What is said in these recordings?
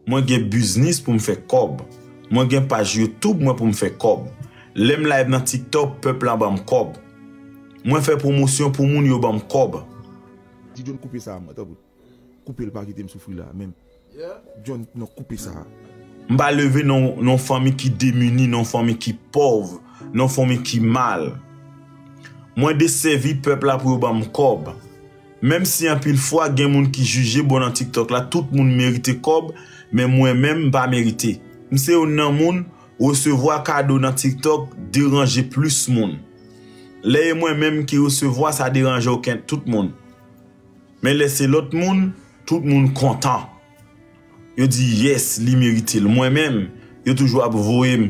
Mwen gen biznis poum fè kòb. Mwen gen paj youtube mwen poum fè kòb. Lèm live nan tiktok pèp la banm kòb. Mwen fè pwomosyon pou moun yo banm kòb. Di John koupe sa a mwen tanpri koupel pa kitem soufri la menm John non koupe sa a. M pa leve nan yon fanmi ki demini, nan yon fanmi ki pòv, nan yon fanmi ki mal. Mwen de sèvi pèp la pou yo banm kòb. Menm si anpil fwa gen moun ki jije bon nan tiktok la tout moun merite kòb men mwen menm mpa merite. Mse youn nan moun resevwa kado nan tiktok deranje plis moun. Lè e mwen menm ki resevwa sa deranje oken tout moun. Men lè se lòt moun tout moun kontan. Yo di yes li meritel mwen menm yo toujou ap voyem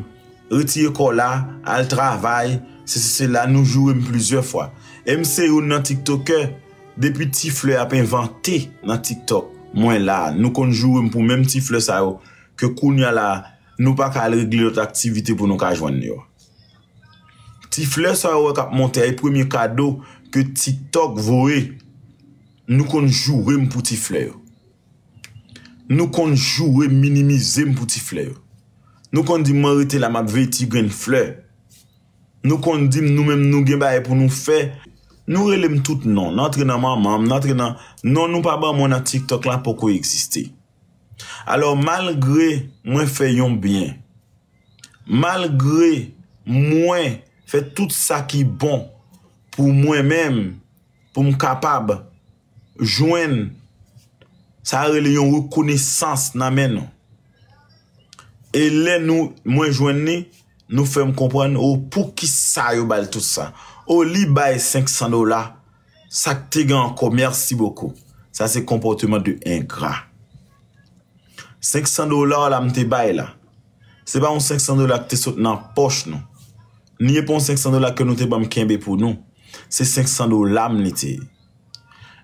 retire kò la al travay sesi sela nou jourem plizyè fwa em se youn nan tiktokè depi ti flè ap envante nan tiktok mwen la nou konn jourem pou menm ti flè sa yo ke kounya la nou paka al regle lòt aktivite pou nou ka jwenn yo ti flè sa ou wè kap monte a e premye kado ke tiktok voye. Nou konn joure m pou ti flè yo. Nou konn joure m, minimize m pou ti flè yo. Nou konn di m mwen rete la m ap veye ti grenn flè. Nou konn di m nou menm nou gen bagay pou nou fè. Nou rele m tout non. N antre nan manman m, n antre nan. Non nou pa ban mwen nan tiktok la poko egziste. Alò malgre mwen fè yon byen, malgre mwen fè tout sa ki bon pou mwen menm. pou m kapab jwenn sa yo rele yon rekonesans nan men nou. E lè nou mwen jwenn li, nou fè m konprann o pou ki sa yo bal tout sa. O li bay 500 dola, sa k te gen ankò mèsi bokou. Sa se konpòteman de engra. 500 dola w la m te bay la. Se pa yon 500 dola ki te sot nan pòch nou. Ni e pa yon 500 dola ke nou te banm kenbe pou nou. Se 500 dola m li te ye.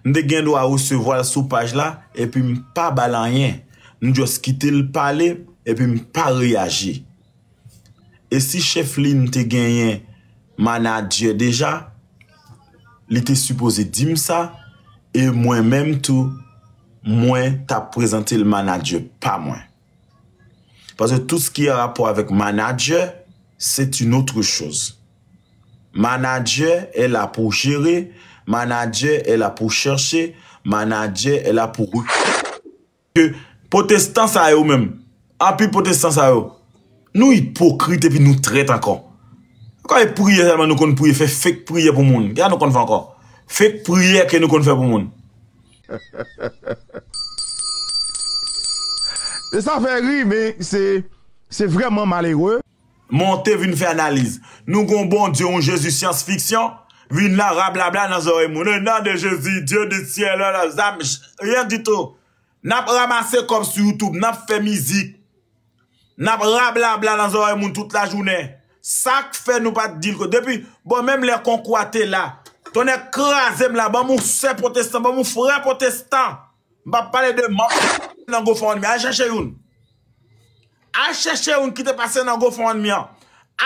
M te gen dwa resevwa l sou paj la epi m pa ba l anyen. M just kite l pale epi m pa reyaji. E si chèf li m te genyen manadjè deja, li te sipoze di m sa e mwen menm tou mwen ta prezante l manadjè pa mwen. Paske tout ski an rapò avèk manadjè, c'est une autre chose. Manadjè è la pou jere, manadjè è la pou chèche, manadjè è la pou rekrite. Ke potestan sa yo menm, anpil potestan sa yo, nou ipokrit epi nou trèt ankò. Ankò e priyè sèlman nou konn priye, fè fake priyè pou moun. Kisa nou konn fè ankò? Fake priyè ke nou konn fè pou moun. E sa fè ri men se vrèman malere. Monte vin fè analiz. Nou gon Bondye yon Jezi syans fiksyon vin la rablabla nan zòrèy moun o nan de Jezi Dye di syèl o nan zam rien du tout nap ramase kòb sou youtube nap fè mizik Nap rablabla nan zòrèy moun tout lajounen sak fè nou pat dil ko depi bon menm lè konkou a te la tonnè krazem la banm yon sè potestan banm yon frè potestan m pap pale de manm ki te pase nan gofundme al chèche youn al chèche youn ki te pase nan gofundme an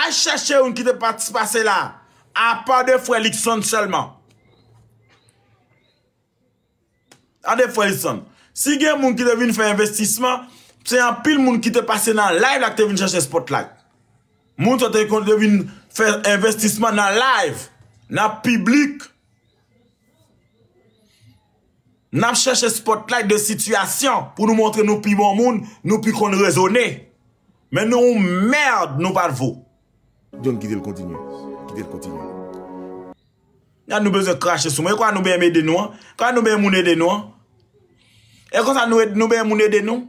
al chèche youn ki te pase la apa de frè Lukson sèlman. Gade frè Edson, si gen moun ki te vin fè envestisman, se anpil moun ki te pase nan live la ki te vin chache spotlight. Moun sa te konn te vin fè envestisman nan live, nan piblik. N ap chache spotlight de sitiyasyon pou nou montre nou pi bon moun, nou pi konn rezone. Men nou yon merd nou pat vo. John kite l kontinye. Kite l kontinye. Gad nou bezwen krache sou moun. E kwa nou bèm ede nou an? Kwa nou bèm moun ede nou an? E kwa sa nou bèm moun ede nou?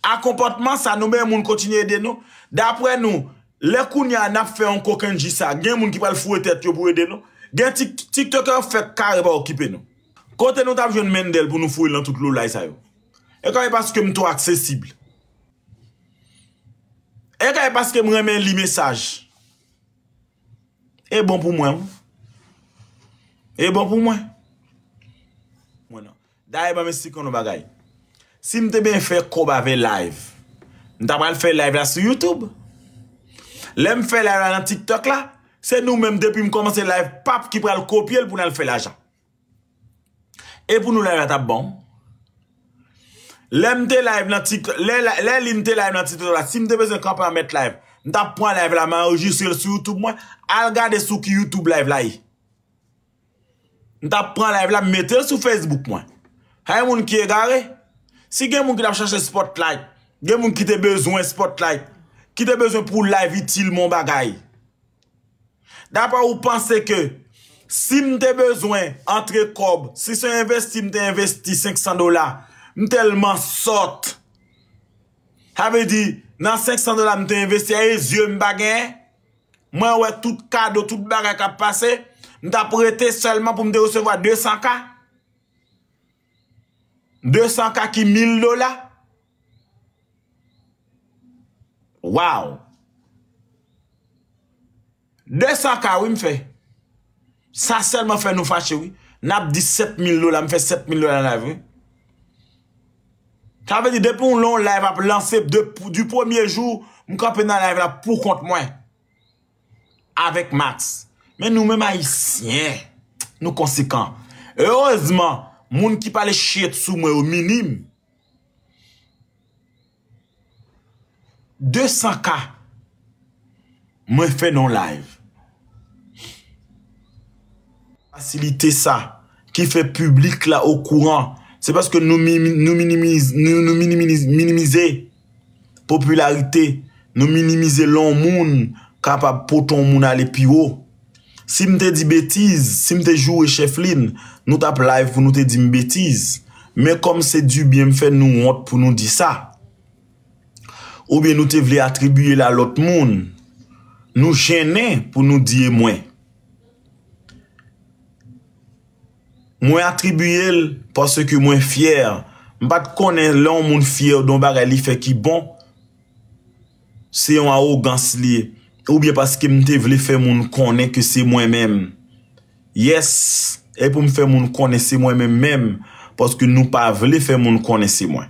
A konpòtman sa nou bèm moun kontinye ede nou? Dapre nou, lè kounye a nap fè yon kokenn ji sa, gen moun ki pral foure tèt yo pou ede nou? Gen tiktokè yo fèk kare pa okipe nou. Kote nou tap jwenn Mendel pou nou foure lan tout loulay sa yo? E kwa e paske m two aksesib? E kwa e paske m renmen li mesaj? E bon pou mwen. E bon pou mwen. Daye banm esplik yon bagay. Si m te byen fè kob avè live. M ta pral fè live la sou YouTube. Lè m fè live la nan TikTok la. Se nou menm depi m komanse live pap ki pral kopye l pou nan fè lajan. E pou nou live la tap bon. Lè m te live nan tik lè li m te live nan tik tok la si m te bezwen kanpe an mèt live m tap pran live la m anrejistre l sou youtube mwen al gade sou ki youtube live la ye. M tap pran live la m mete l sou facebook mwen. Hay moun ki egare. Si gen moun ki tap chache spot light gen moun ki te bezwen spot light ki te bezwen pou live itil m yon bagay. Dapre ou panse ke si m te bezwen antre kòb, si se yon envesti m te envesti 500 dola, m tèlman sòt. Sa vle di nan 500 dola m te envesti a e zye m pa genyen, mwen wè tout kado, tout bagay k ap pase, m t ap rete sèlman pou m te resevwa 200 ka? 200 ka ki 1000 dola Waww 200 ka wi m fè Sa sèlman fè nou fache wi N ap di 7000 dola m fè 7000 dola nan live wi Sa vle di depi ou lè yon live ap lanse Du premye jou m kanpe nan live la pou kont mwen avèk Max men nou menm ayisyen nou konsekan erezman moun ki pale shit sou mwen yo minim 200 ka mwen fè nan yon live fasilite sa ki fè piblik la okouran se paske nou minimize. popilarite, nou minimize lè yon moun kapab pote yon moun ale pi wo. Si m te di betiz, si m te joure cheflin, nou t ap live pou nou te di m betiz. Men kòm se du byen m fè nou wont pou nou di sa. Oubyen nou te vle atribiye l a lòt moun. Nou jennen pou nou di e mwen. Mwen atribiye l paske mwen fyè. M pa t konnen lè yon moun fyè de yon bagay li fè ki bon, se yon awogans li ye. Oubyen paske m te vle fè moun konnen ke se mwen menm. Yes, e pou m fè moun konnen se mwen menm menm, paske nou pa vle fè moun konnen se mwen.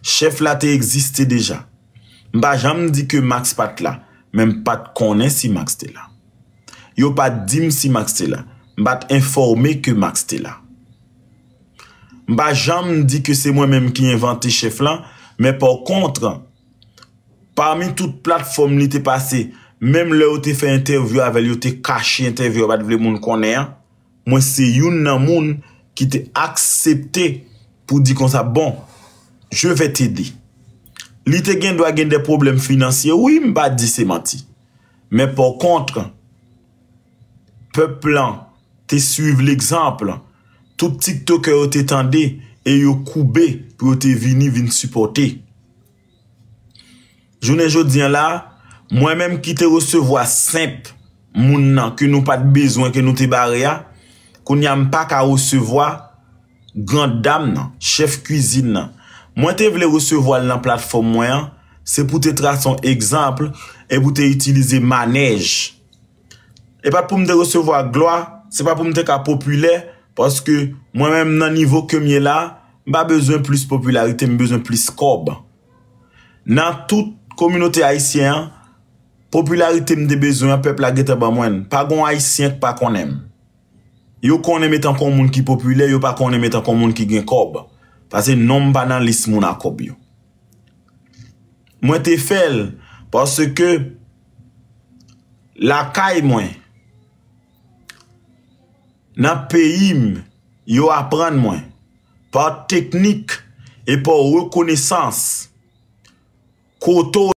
Chèf la te egziste deja. M pa janm di ke Max pa t la, men m pa t konnen si Max te la. Yo pa t di m si Max te la. M pa t enfòme ke Max te la. M pa janm di ke se mwen menm ki envante chèf lan, men pa kontre, pami tout platfòm li te pase, menm lè yo te fè entèvyou avè l, yo te kache entèvyou, yo pa t vle moun konnen an, mwen se youn nan moun ki te aksepte pou di konsa, bon, je vais t'aider. Li te gen dwa gen de pwoblèm finansye, wi, m pa di se manti. Men pa kontre, pèp lan te swiv legzanp tout tiktokè yo te tande e yo koube pou yo te vini vin sipòte. Jounen jodi an la, mwen menm ki te resevwa senp moun nan ke nou pa t bezwen ke nou te bare a, kounye a m pa ka resevwa, Grandam nan, chèf kuizin nan, mwen te vle resevwa l nan platfòm mwen an, se pou te trase yon egzanp e pou te itilize manèj. E pa t pou m te resevwa glwa, se pa pou m te ka popilè, paske mwen menm nan nivo ke m ye la, m pa bezwen plis popilarite, m bezwen plis kòb. Nan tout kominote ayisyen an, popilarite m te bezwen an, pèp la gentan ban mwen l. Pa gen yon ayisyen ki pa konnen m. Yo konnen m etan kon moun ki popilè, yo pa konnen m etan kon moun ki gen kòb. Pase non m pa nan lis moun a kòb yo. Mwen te fè l paske lakay mwen, nan peyi m, yo aprann mwen pa teknik e pa rekonesans kote w.